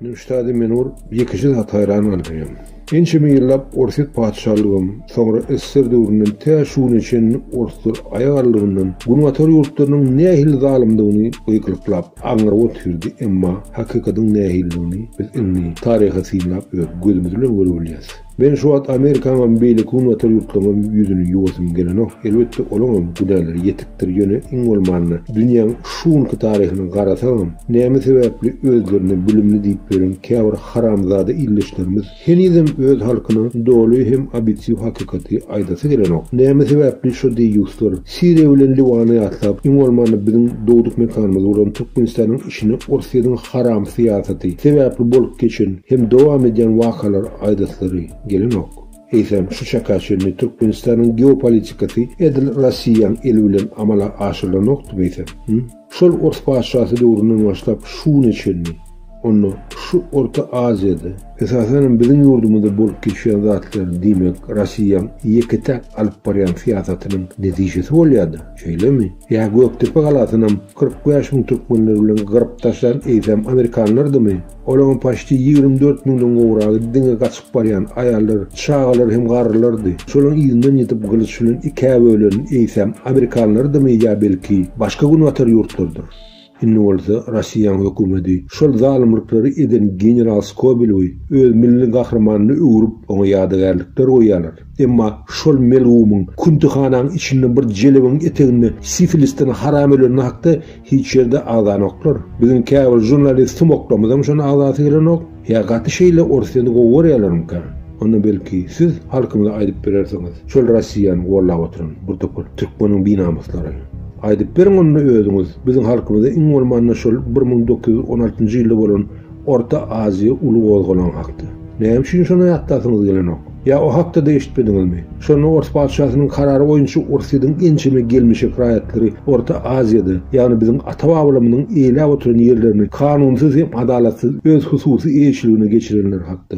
Newşad-y Menur ýekeje zat haýran galýaryn. Ençeme ýyllap Orsýet patyşalygam, soňra SSR döwründen tä şu güne çenli orslar aýak aralygyndan Günbatar ýurtlarynyň nähili zalymdygyny gykylyklap, aňryk otyrdy, emma hakykatyň nähilidigini biz indi taryhy synlap öz gözümiz bilen görüp bilýäs. Men şu wagt Amerikaňam, beýleki günbatar ýurtlaryňam ýüzüni ýuwasym gelenok. Elbetde, olaňam günäleri ýetikdir, ýöne, iň bolmanda, dünýäň şu günki taryhyna garasaňam, näme sebäpli özlerine bilimli diýip ýören käbir haramzada ildeşlerimiz henizem öz halkyna doly hem obýektiw hakykaty aýdasy gelenok? Näme sebäpli şo deýýuslar, Siriýa bilen Liwany ýatlap, iň bolmanda biziň dogduk mekanymyz bolan Türkmenistanyň işine Orsýetiň haram syýasaty sebäpli bolup geçen hem dowam edýän wakalar aýdaslary gelenok. Eýsem, şu çaka çenli Türkmenistanyň geopolitikasy edil Rossiýaň eli bilen amala aşyrylanokdymy eýsem? Hü? Şol ors patyşasy döwründen başlap şu güne çenli, onda şu Orta Aziýada, esasanam biziň ýurdumyzda bolup geçýän zatlar, diýmek, Rossiýaň ýeke-täk alyp barýan syýasatynyň netijesi bolýar-da, şeýlemi? Ýa Gökdepe galasynam kyrk bäş müň türkmenler bilen gyryp taşlan eýsem amerikanlardymy? Olaryň paçti ýigrimi dört müňden gowragy diňe gaçyp barýan aýallar, çagalar hem garrylardy. Şolaryň yzyndan ýetip gylyç bilen ikä bölen eýsem amerikanlardymy ýa belki başga günbatar ýurtlardyr? Indi bolsa Rossiýaň hökümedi şol zalymlyklary eden general Skobelewi öz milli gahrymanyna öwrüp, oňa ýadygärlikler goýýarlar. Emma şol melgumyň küntihanaň içinde bir jelebiň eteginde sifilisden haram öleni hakda Hiç ýerde agzanoklar. Biziň käbir žurnalist sumoklamyzam şona agzasy gelenok. Ýa gaty şeýle orsýeti gowy görýärlermikä? Onda belki siz halkymyza aýdyp berersiňiz. Şol Rossiýany gollap oturan bir topar türkmeniň binamyslary. Aýdyp beriň onda özüňiz. Biziň halkymyza iň bolmanda şol bir müň dokuz ýüz on altynjy ýylda bolan Orta Aziýa uly gozgalaň hakda. Näme üçin şona ýatlasyňyz gelenok? Ýa o hakda-da eşitmediňizmi? Şonda ors patyşasynyň karary boýunça Orsyýetiň ençeme gelmişek raýatlary Orta Aziýada, ýagny biziň ata-babalarymyzyň eýläp oturan ýerlerini kanunsyz hem adalatsyz öz hususy eýeçiligine geçirenler hakda.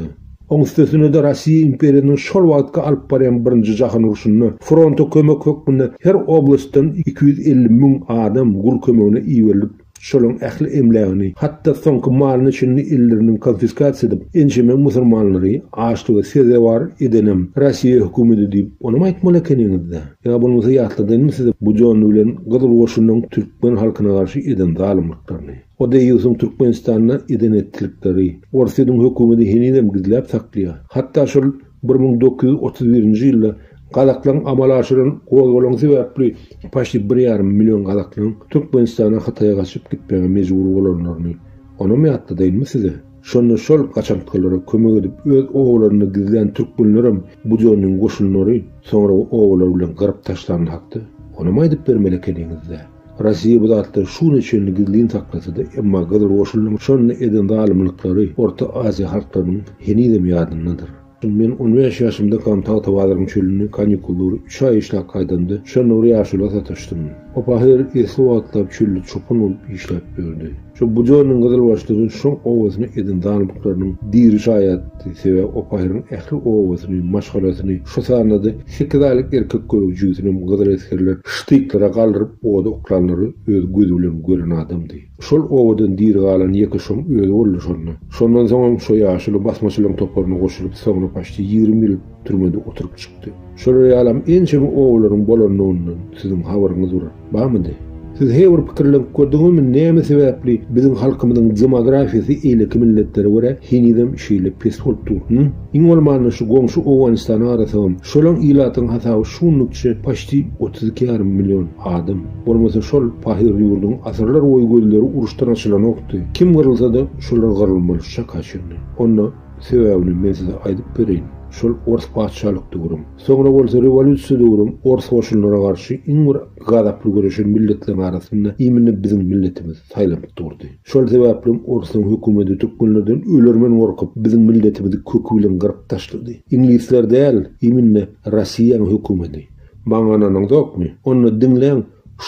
Oň üstesine-de Rossiýa imperiýasynyň şol wagtky alyp barýan Birinji jahan urşunda fronta kömek hökmünde her oblastdan iki ýüz elli müň adam gul kömegine iberilip, Şolaryň ähli emlägini, hatda soňky malyny-çinini elleriniň konfiskasiýa edip, ençeme musurmanlary açlyga sezewar edenem Rossiýa hökümedi diýip, onam aýtmaly ekeniňiz-dä. Ýa bolmasa ýatladyňmy size bu Jony bilen Gyzyl goşunyň türkmen halkyna garşy eden zalymlyklaryny? O deýýusyň Türkmenistanda eden-etdikleri Orsýetiň hökümedi henizem gizläp saklaýar. Hatda şol Bir müň dokuz ýüz otuz birinji ýylda gazaklaryň amala aşyran gozgalaňy sebäpli paçti bir ýarym million gazaklaryň Türkmenistana Hytaýa gaçyp gitmäge mejbur bolanlaryny onam ýatladaýynmy size? Şonda şol gaçantgalara kömek edip öz obalarynda gizlän türkmenlerem Budionnyň goşunlary soňra obalar bilen gyryp taşlandy hakda onam aýdyp bermeli ekeniňizdä? Rossiýa bu zatlary şu güne çenli gizlin saklasa-da, emma Gyzyl Goşunlaryň şonda eden zalymlyklary Orta Aziýa halklarynyň henizem ýadyndadyr. Men on bäş ýaşymdakam Tagtabazaryň çölüne kanikullary üç aý işläp gaýdamda, şonda bir ýaşula sataşdym. Opa her esli wagtlap çölde çopan bolup işläp ýördi. Şu Bujonuň gyzylbaşlygy şoň obasyna eden zalymlyklarynyň diri şaýadydy, sebäbi Opaýryň ähli obasyny, maşgalasyny, şu sanda-da sekiz aýlyk erkek gök jübüsinem gyzyl esgerler ştyklara galdyryp oda oklanlary öz gözi bilen gören adamdy. Şol obadan diri galan ýeke şoň özi boldy şonda. Şondan soňam şo ýaşuly basmaçylaryň toparyna goşulyp, soňra paçti ýigrimi ýyl türmede oturyp çykdy. Şolar ýalam ençeme obalaryň bolandygyndan siziň habaryňyz bir. Barmydy? Siz he bir pikirlenip gördüňizmi näme sebäpli biziň halkymyzyň demografiýasy eýleki milletlere görä henizem şeýle pes bolup dur? Hym? Iň bolmanda şu goňşy Owganystana garasagam şolam ilatyň hasaby şu günlükçe paçti otuz iki ýarym million adam. Bolmasa şol pahyr ýurduň asyrlar boýy gözleri uruşdan açylanokdy. Kim gyrylsada şolar gyrylmaly şu çaka çenli. Onda sebäbini men size aýdyp bereýin. Şol ors patyşalykdy gürüm. Soňra bolsa rewolýusiýa döwrüň ors goşunlara garşy iň bir gazaply göreşen milletleriň arasynda imini biziň milletimiz saýlanyp durdy. Şol sebäplem orsuň hökümeti türkmenlerden ölermen gorkup, biziň milletimizi köki bilen gyryp taşlady. Iňlisler däl, imini Rossiýaň hökümeti. Maňananyňzokmy? Onda diňläň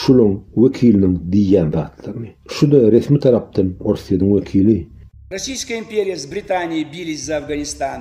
şulaň wekiliniň diýýän zatlaryny. Şu-da resmi tarapdan Orsýetiň wekili. Rossiýska imperiýasy Britaniýa biriji za Afganistan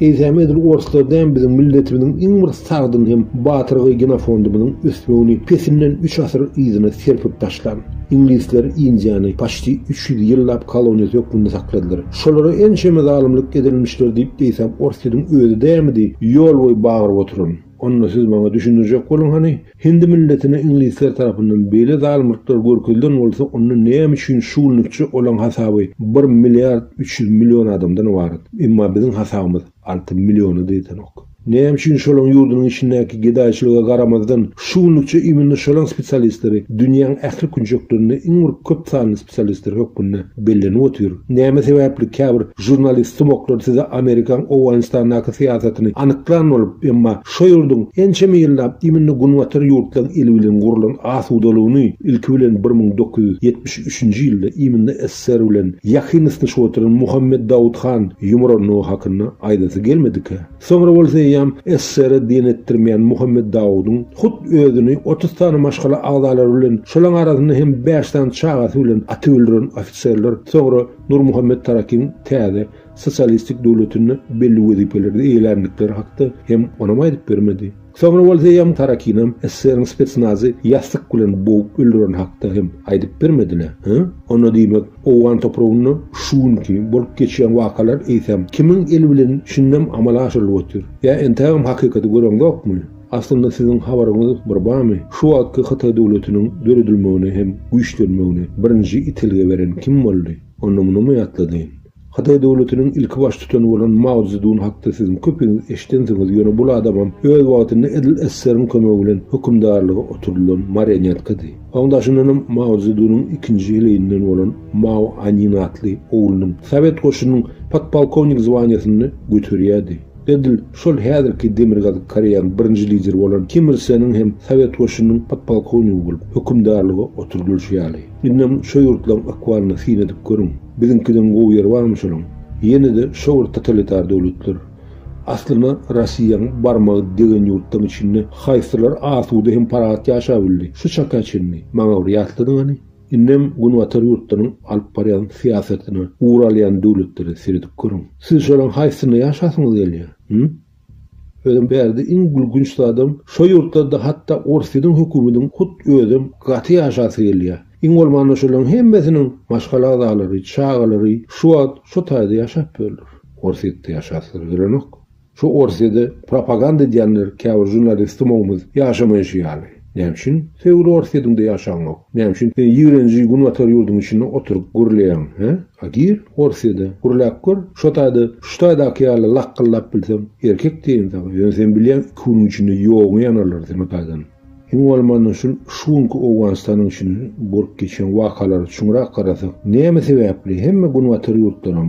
Eýsem edil orslar däm biziň milletimiziň iň bir sagdyn hem batyrgy genofondymyzyň ösmegini pesinden üç asyr yzyna serpip taşlan. Iňlisler Indiýany paçti üç ýüz ýyllap koloniýasy hökmünde sakladylar. Şolara ençeme zalymlyk edilmişdir diýip eýsem ors ýidiň özi dämidi ýol boýy bagyryp oturan. Onda siz maňa düşündirjek boluň hany, Hindi milletine iňlisler tarapyndan beýle zalymlyklar görkezilen bolsa onda näme üçin şu günlikçe olaň hasaby bir milliard üç ýüz million adamdan ybarat, emma biziň hasabymyz alty milliona da ýetenok. Näme üçin şolaň ýurdunyň içindäki gedaýçylyga garamazdan şu günlikçe immina şolaň spesialistleri dünýäň ähli künjeklerinde iň bir köp sanly spesialistleri hökmünde bellenip otyr. Näme sebäpli käbir žurnalist sumaklar size Amerikaň Owganystandaky syýasatyny anyklan bolup, emma şo ýurduň ençeme ýyllap immnde Günbatar ýurtlaň eli bilen gurlan asudalygyny, ilki bilen bir müň dokuz ýüz ýetmiş üçünji ýylda immnde SSR bilen ýakyn ysnyşyp otyran Muhammet Dawut han ýumrandygy hakynda aýdasy gelmedikä? Soňra bolsa eýýäm SSR-e diýen etdirmeýän Muhammet Dawudyň hut özüni otuz sany maşgala agzalary bilen, şolaň arasynda hem bäş sany çagasy bilen atyp öldüren ofiserler soňra Nurmuhammet Tarakiň täze sosialistik döwletinde belli wezipelerde eýeländikleri hakda hem onam aýdyp bermedi. Soňra ol Zeýam Tarakinam SSR-iň spetsnazy ýassyk bilen bogup öldüreni hakda hem aýdyp bermedinä, hä? Onda diýmek, owgan topragynda şu günki bolup geçýän wakalar eýsem kimiň eli bilen şindem amala aşyrylyp otyr? Ýa entägem hakykaty göreňzokmy? Aslynda siziň habaryňyz bir bamy, şu wagtky Hytaý döwletiniň döredilmegine hem güýçlenmegine birinji itelgi beren kim boldy? Onda munymy ýatladyň. Hytaý döwletiniň ilki baş tutany bolan Mao Zedun hakda siziň köpiňiz eşidensiňiz, ýöne bul adamam öz wagtynda edil SSR-iň kömegi bilen hökümdarlyga oturdylan marionetkady. Oň daşyndanam Mao Zedunyň ikinji heleýinden bolan Mao Anin atly oglunyň sowet goşunynyň podpolkownik zwaniýasyny göterýärdi. Edil şol häzirki Demirgazyk Koreýanyň birinji lideri bolan Kim Ir Seniň hem sowet goşunynyň podpolkownigi bolup hökümdarlyga oturdylyşy ýaly. Indem şo ýurtlaryň akwalyna syn edip görüň. Biziňkiden gowy ýeri barmy şolaň? Ýene-de şo bir totalitar döwletler. Aslyna Rossiýaň barmagy degen ýurtlaryň içinde haýsylar asuda hem parahat ýaşap bildi şu çaka çenli? Maňa bir ýatladyň hany? Indem Günbatar ýurtlaryň alyp barýan syýasatyna ugur alýan döwletlere seredip görüň. Siz şolaň haýsysyna ýaşasyňyz gelýär? Hü? Özem bärde iň gülgünç zadam, şo ýurtlarda hatda Orsýetiň hökümediniň hut özem gaty ýaşasy gelýär. Iň bolmanda şolaryň hemmesiniň maşgala agzalary, çagalary şu wagt şo taýda ýaşap ýörler. Orsýetde ýaşasylary gelenok. Şo Orsýede propaganda edýänler käbir žurnalistymogymyz ýaşamaýşy ýaly. Näme üçin sen uly Orsýetiňde ýaşaňok? Näme üçin sen ýigrenji Günbatar ýurduň içinde oturyp gürleýäň, hä? A gir Orsýede, gürläp gör. Şo taýda şu taýdaky ýaly lakgyldap bilseň, erkek diýeýin saňa. Ýöne sen bilýäň, iki günüň içinde ýogyňy ýanarlar seni taýdan. Iň bolmanda şul şu günki Owganystanyň içinde bolup geçýän wakalary çuňrak garasak, näme sebäpli hemme Günbatar ýurtlaram,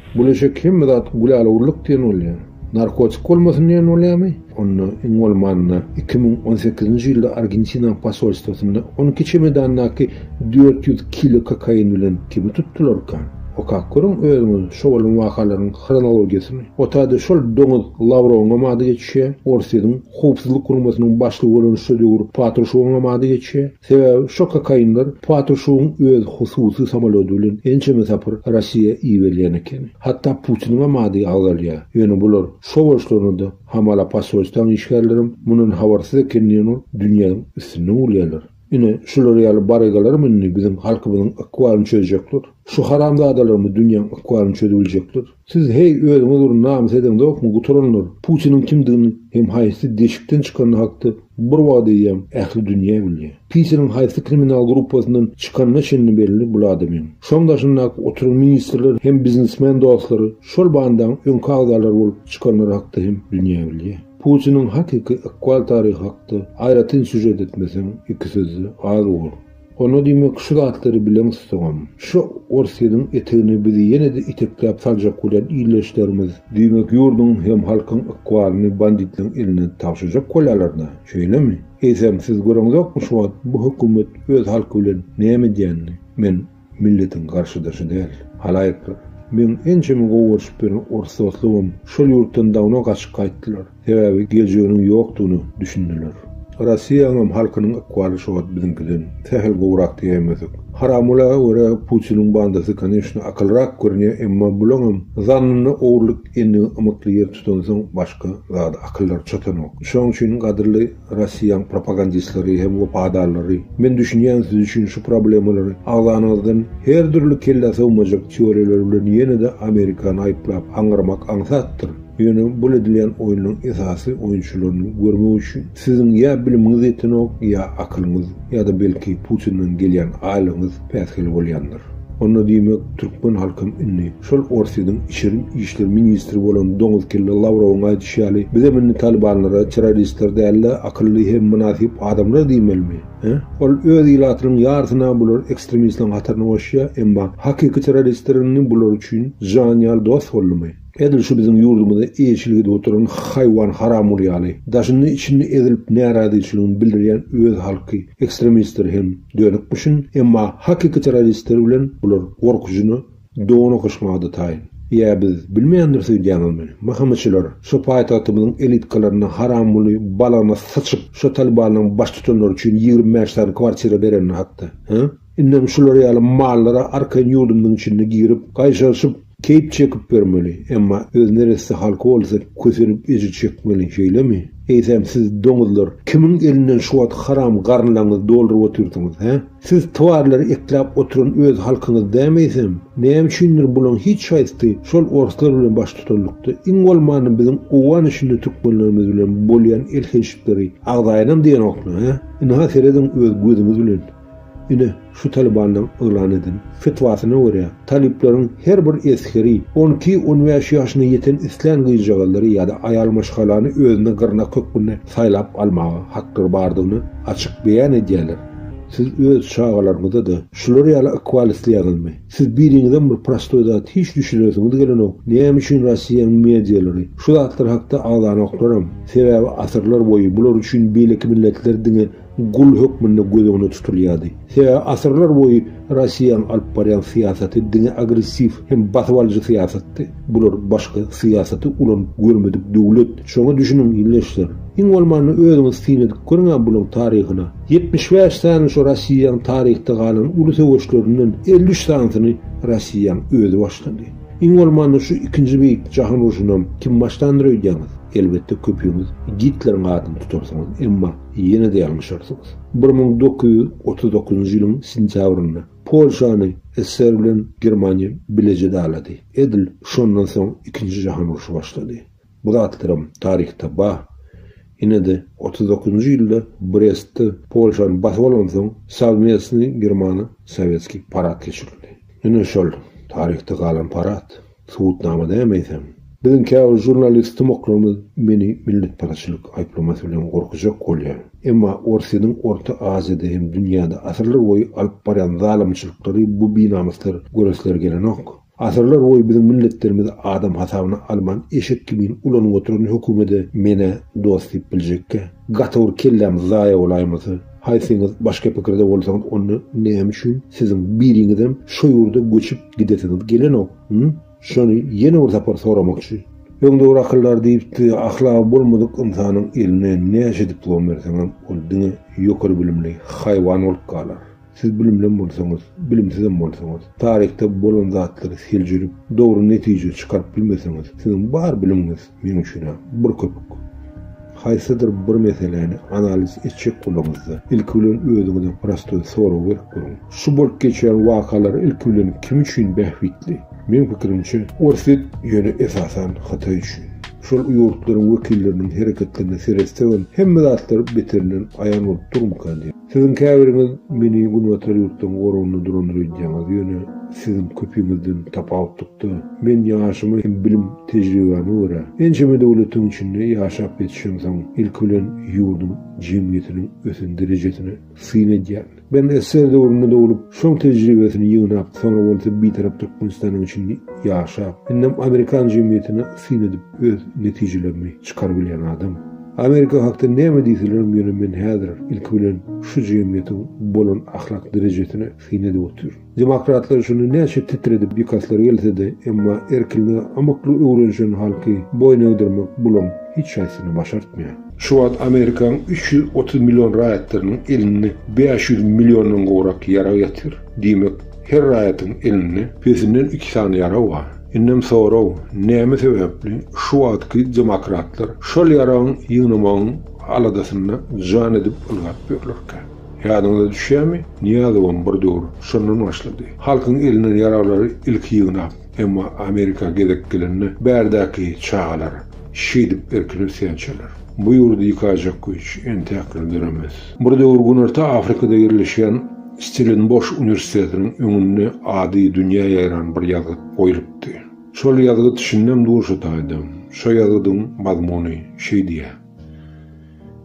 Bulaşek hemme zat gülälewurlyk diýen bolýar. Narkotik bolmasyn diýen bolýamy? Onda iň bolmanda iki müň on sekizinji ýylda Argentinaň posolstwosynda on iki çemedandaky dört ýüz kilo kokain bilen kimi tutdularka? Okap görüň özüňiz şo bolan wakalaryň hronologiýasyny. Otada şol doňuz Lawrowyňam ady geçýär, Orsýetiň Howpsuzlyk guramasynyň başlygy bolan şo döwür Patruşewyňam ady geçýär. Sebäbi şo kokainler Patušowyň öz hususy samolýody bilen ençeme sapar Rossiýa iberýän ekeni. Hatda Putiniňem ady agzalýar. Ýöne bular şo bolşlaryna-da hamala posolstwaň işgärlerem mundan habarsyz eken diýen ol dünýäň üstünden gülýärler. Ine, şular ýaly barygalarm indi biziň halkymyzyň ykbalyny çözjekler. Şu haramzadalarmy dünýäň ykbalyny çözübiljekler? Siz heý özüňiz bir namys edeňzokmy gutaranlar, Putiniň kimdigini hem haýsy deşikden çykany hakda bir wagt eýýäm ähli dünýä bilýä. Pitiniň haýsy kriminal gruppasyndan çykanyna çenli belli bul adamyň. Şoň daşyndaky oturan ministrler hem biznesmen dostlary şol bandaň öňki agzalary bolup çykanlary hakda hem dünýä bilýä. Putiniň hakyky ykbal taryhy hakda aýratyn sýužet etmeseň iki sözde az bor. Onda diýmek şu zatlary bileň tutuňam. Şu Orsynyň etegine bizi ýene-de itekläp saljak bolýan ildeşlerimiz diýmek ýurduň hem halkyň ykbalyny banditleň eline tabşyrjak bolýalar-da, şeýlemi? Eýsem siz göreňzokmy şu wagt bu hökümet öz halky bilen näme edýänini? Men milletiň garşydaşy däl, halaýyklar. Meň ençeme gowy görşüp ýören orus dostlarymam şol ýurtdan dawno gaçyp gaýtdylar. Sebäbi geljeginiň ýokdugyna düşündiler. Rossiýanyňam halkynyň ykbaly şu wagt biziňkiden sähel gowrak diýemezdik. Haramgulaga görä Putiniň bandasy koneçna akylrak görünýär, emma bulaňam zannynda ogurlyk endigi ymykly ýer tutansoň başga zada akyllary çatanok. Şoň üçin gadyrly Rossiýaň propagandistleri hem wepadallary men düşünýän siz üçin şu problemalary agzanyňyzdan her dürli kellä sygmajak teoriýalar bilen ýene-de Amerikany aýyplap aňňyrmak aňsatdyr. Ýöne bul edilýän oýnuň esasy oýunçylaryny görmek üçin siziň ýa bilimiňiz ýetenok, ýa akylyňyz, ýa-da belki Putinden gelýän aýlygyňyz päsgel bolýandyr. Onda diýmek türkmen halkam indi şol Orsýetiň içeri işler ministri bolan doňuz kelle Lawrowyň aýdyşy ýaly bizem indi talybanlara terroristler däl-de akylly hem mynasyp adamlar diýmelimi? Hä? Ol öz ilatynyň ýarysyna bular ekstremistleriň hataryna goşýa, emma hakyky terroristler indi bular üçin jan ýaly dost boldumy? Edil şu biziň ýurdumyzy eýeçilik edip oturan haýwan haramguly ýaly, daşynda içinde ezilip närazyçylygyny bildirýän öz halky ekstremistleri hem dönükmişin, emma hakyky terroristleri bilen bular gorkujyna dona gyşmaga-da taýyn. Ýa biz bilmändir söýdýäňizmi? Mhmçylar, şu paýtagtymyzyň elitkalarynda haramguly balagyna syçyp, şo Talybanyň baştutanlary üçin ýigrimi bäş sany kwartira berenini hakda, hä? Indem şular ýaly mallara arkaýyn ýurdumyzyň içinde girip, gaýşaryşyp, keýp çekip ýörmeli, emma öz neresse halky bolsa kösenip ejir çekmeli, şeýlemi? Eýsem siz, doňuzlar, kimiň elinden şu wagt haram garynlaňyzy dolduryp otyrsyňyz, hä? Siz twarlary ekläp oturan öz halkyňyz dämi eýsem? Näme üçindir bulaň hiç haýsysy şol orslar bilen baştutanlykda, iň bolmanda biziň owgan içinde türkmenlerimiz bilen bolýan elhençlikleri agzaýynam diýenokmy, hä? Ynha serediň öz gözüňiz bilen. Ine, şu Talybanyň yglan eden fetwasyna görä, talyplaryň her bir esgeri on iki, on bäş ýaşyna ýeten islän gyzjagazlary ýa-da aýal maşgalany özüne gyrnak hökmünde saýlap almaga haklar bardygyny açyk beýan edýärler. Siz öz çagalaryňyza-da şular ýaly ykbal isleýäňizmi? Siz biriňizem bir prostoý zat hiç düşünesiňiz gelenok, näme üçin Rossiýanyň medialary şu zatlar hakda agzanoklarm? Sebäbi asyrlar boýy bular üçin beýleki milletler diňe gul hökmünde göz öňünde tutulýardy. Sebäbi asyrlar boýy Rossiýanyň alyp barýan syýasaty diňe agressiw hem basyp alyjy syýasatdy. Bular başga syýasaty ulanyp görmedik döwlet. Şoňa düşüniň, ildeşler. Iň bolmanda özüňiz syn edip görüň-ä bulaň taryhyna. Ýetmiş bäş sany şu Rossiýanyň taryhda galan uly söweşlerinden elli üç sanysyny Rossiýanyň özi başlady. Iň bolmanda şu ikinji beýik jahan urşunam kim başlandyr öýdýäňiz? Elbetde köpüňiz Gitleriň adyny tutarsyňyz. Emma Ýene-de ýalňyşarsyňyz. Bir müň dokuz ýüz otuz dokuzynjy ýylyň sentýabrynda Polşany SSR bilen Germaniýa bileje dalady. Edil şondan soň Ikinji jahan urşy başlady. Bu zatlaram taryhda bar. Ýene-de otuz dokuzynjy ýylda Brestde Polşany basyp alansoň Sowmestnyý Germano-Sowetskiý parad geçirildi. Ýene şol taryhda galan parad. Subutnama näme eýsem? Biziň käbir žurnalist tomaklarymyz meni milletparazçylyk aýyplamasy bilen gorkujak bolýar. Emma Orsýetiň Orta Aziýada hem dünýäde asyrlarboýy alyp barýan zalymçylyklary bu binamyslar göresleri gelenok. Asyrlarboýy biziň milletlerimizi adam hasabyna alman eşek kimin ulanyp oturan hökümede men-ä dost diýip biljekkä? Gaty bir kelläm zaýa bolaýmasa. Haýsyňyz başga pikirde bolsaňyz onda näme üçin siziň biriňizem şo ýurda göçüp gidesiňiz gelenok hum? Şony ýene bir sapar soramak üçin. Öň dogry akyllar diýipdi, ahlagy bolmadyk ynsanyň eline näçe diplom berseňem ol diňe ýokary bilimli haýwan bolup galar. Siz bilimlem bolsaňyz, bilimsizem bolsaňyz, taryhda bolan zatlary seljerip dogry netije çykaryp bilmeseňiz, siziň bar bilimiňiz, Münşine bir köpük. Haýsydyr bir meseläni analiz etjek bolaňyzda, ilki bilen özüňize prostoý sorag berip görüň. Şu bolup geçýän wakalar ilki bilen kim üçin bähbitli? Meň pikirimçe, Orsýet, ýöne esasan Hytaý üçin. Şol ýurtlaryň wekilleriniň hereketlerine seretsegem, hemme zatlar beterinden aýan bolup durmyka diýip. Siziň käbiriňiz meni Günbatar ýurtlaryň goragynda durandyr öýdýäňiz, ýöne siziň köpiňizden tapawutlykda, men ýaşyma hem bilim tejribäme görä, ençeme döwletiň içinde ýaşap ýetişemsoň, ilki bilen ýurduň jemgyýetiniň ösen derejesine syn edýän. Ben SSR döwründe doglup, şoň tejribesini ýygnap, soňra bolsa Bitarap Türkmenistanyň içinde ýaşap, indem amerikan jemgyýetine syn edip öz netijelerimi çykarybilýän adam. Amerika hakda näme diýselerim ýöne men häzir ilki bilen şu jemgyýetiň bolan ahlak derejesine syn edip otyr. Demokratlar şuny näçe titredip ýykaslar gelsede emma erkinlige amykly öwrenşen halky boýun egdirmek bulam hiç haýsyny başartmaýar. Şu wagt Amerikaň üç ýüz otuz million raýatlarynyň elinde bäş ýüz milliondan gowrak ýarag ýatyr. Diýmek her raýatyň elinde pesinden iki sany ýarag bar. Indem sorag, näme sebäpli şu wagtky demokratlar şol ýaragyň ýygnamagyň aladasynda jan edip ylgap ýörlerkä? Ýadyňyza düşýärmi, Nyýazowam bir döwür şondan başlady. Halkyň elinden ýaraglary ilki ýygnap, emma Amerika gezek gelende bärdäki çagalar, şeýdip erkin ösýänçäler. Bu ýurdy ýykajak güýç entäk gün döremez. Bir döwür Günorta Afrikada ýerleşýän Stellenboş uniwersitetiniň öňünde ady dünýä ýaýran bir ýazgyt goýlupdy. Şol ýazgyt şindem durşy taýda. Şo ýazgydyň mazmuny şeý diýýär,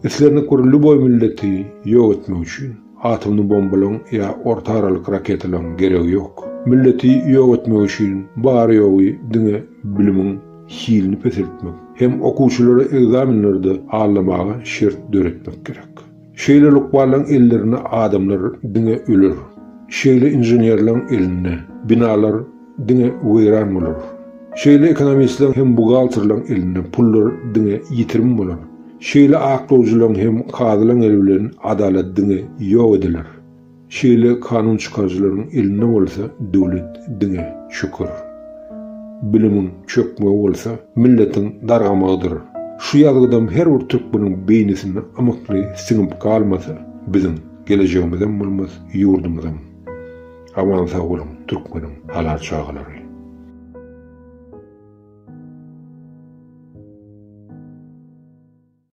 Islendik bir lýuboý milleti ýok etmek üçin, atomny bombalaryň ýa orta aralyk raketalaryň geregi ýok. Milleti ýok etmek üçin bary-ýogy diňe bilimiň hilini peseltmek hem okuwçylara ekzamenlerde allamaga şert döretmek gerek. Şeýle lukmanlaryň ellerinde adamlar diňe öler. Şeýle inženerlaryň elinde binalar diňe weýran bolar. Şeýle ekonomistleriň hem buhgalterlaryň elinde pullar diňe ýitirim bolar. Şeýle aklawjylaryň hem kazylaryň eli bilen adalat diňe ýok ediler. Şeýle kanun çykaryjylaryň elinde bolsa döwlet diňe şükür. Bilimiň çökmegi bolsa milletiň dargamagydyr. Şu ýazgydam her bir türkmeniň beýnisine ymykly siňip galmasa biziň gelejegimizem bolmaz ýurdumyzam. Aman sag boluň türkmeniň halal çagalary.